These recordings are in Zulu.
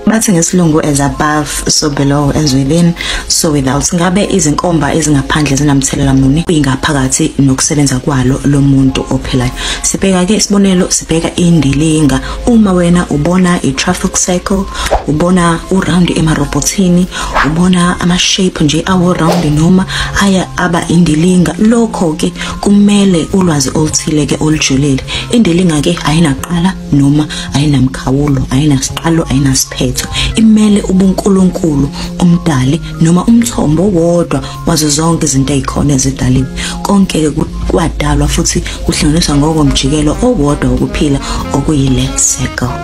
bathi ngesilungu as above so below as within so without ngabe izinkomba ezingaphandle zinamthelela muni kwingaphakathi nokusebenza kwalo lomuntu ophilayo sibheka ke isibonelo sibheka indilinga uma wena ubona i traffic cycle ubona u round ema robotini ubona ama shape nje awo round noma aya aba indilinga lokho ke kumele ulwazi oluthile ke olujulile indilinga ke ayinaqala noma ayinamkhawulo ayinasiqalo ayinasiphetho imele ubunkulunkulu umdali noma umthombo wodwa wazo zonke izinto ezikhona ezidaliwe konke kwadalwa futhi kuhlanganiswa ngokomjikelo owodwa wokuphila okuyile circle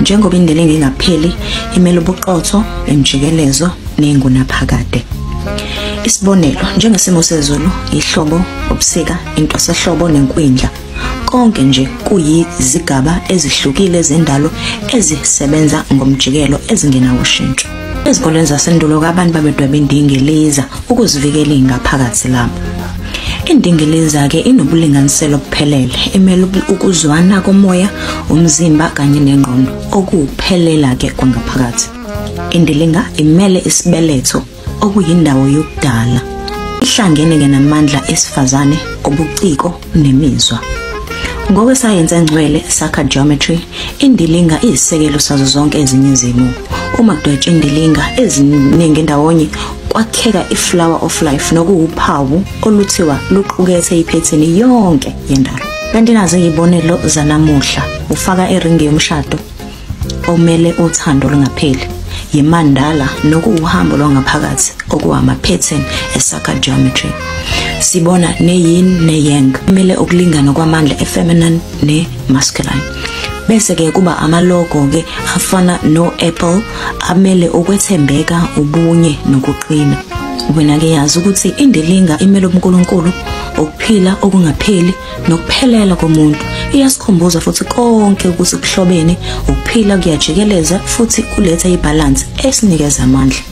njengoba indlela engingapheli imele ubuqotho emjikelezo nengunaphakade isibonelo njengesimo sezulu ihlobo ubusika intwasahlobo nenkwindla konke nje kuyizigaba ezihlukile zendalo ezisebenza ngomjikelo ezingena ushintsho ezikoleni zasendulo abantu babedweba indingiliza ukuzivikela ingaphakathi lapho indingiliza-ke inobulinganiselo obuphelele imele ukuzwana komoya umzimba kanye nengqondo okuphelela-ke kwangaphakathi indilinga imele isibeletho okuyindawo yokudala ihlangene ke namandla esifazane obuciko nemizwa ngokwesayensi engcwele sakha geometry indilinga iyisekelo sazo zonke ezinye izimo uma kudwetshwa indilinga eziningi ndawonye kwakheka iflower of life nokuwuphawu oluthiwa luqukethe iphethini yonke yendalo kanti nazo izibonelo zanamuhla ufaka eringi yomshado omele uthando olungapheli yimandala nokuwuhambo lwangaphakathi okuhama pattern esakha geometry sibona neyin neyang kumele ukulingana kwamandla efeminine nemasculine bese ke kuba amalogo ke afana no Apple amele ukwethembeka ubunye nokuqina wena ke yazi ukuthi indilinga imele uNkulunkulu ukuphila okungapheli nokuphelela komuntu iyasikhumbuza futhi konke ukuthi kuhlobene ukuphila kuyajikeleza futhi kuletha ibhalansi esinikeza amandla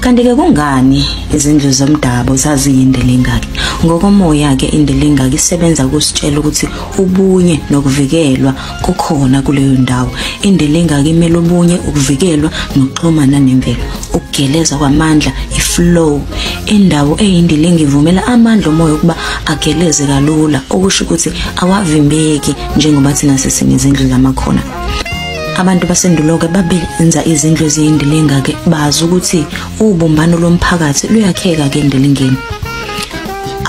kanti-ke kungani izindlu zomdabu zaziyindelengaki ngokomoya-ke indelengaki isebenza kusitshela ukuthi ubunye nokuvikelwa kukhona kuleyo ndawo indela engaka imele obunye ukuvikelwa nokuxhumana nemvelo ukugeleza kwamandla iflow indawo eyindila engivumela amandla omoya ukuba ageleze kalula okusho ukuthi awavimbeki njengoba thina sisini izindlu zamakhona abantu basenduloke babenza izindlu eziyindila engake bazi ukuthi ubumbano lomphakathi luyakheka ke endilingeni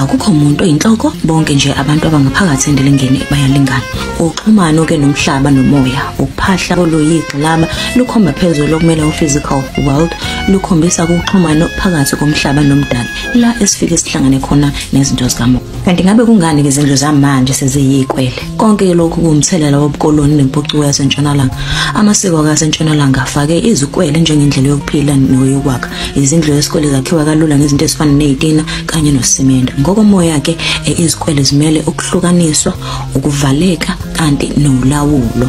akukho muntu oyinhloko bonke nje abantu abangaphakathi endilingeni bayalingana uxhumano ke nomhlaba nomoya ukuphahla koluyigxilaba lukhomba phezulu okumele u-physical world lukhombisa ukuxhumana phakathi komhlaba nomdali la esifike sihlangane khona nezinto zikamoya kanti ngabe kungani-ke izindlu zamanje seziyikwele Konke lokhu kuwumthelela wobukoloni nempucuko yasentshonalanga. Amasiko akasentshonalanga afake izikwele njengendlela yokuphila noyokwakha. Izindlu zesikole zakhiwa kalula ngezinto ezifana nezitina kanye nosimende. Ngokomoya ke eh, izikwele zimele ukuhlukaniswa, ukuvaleka kanti nolawulo.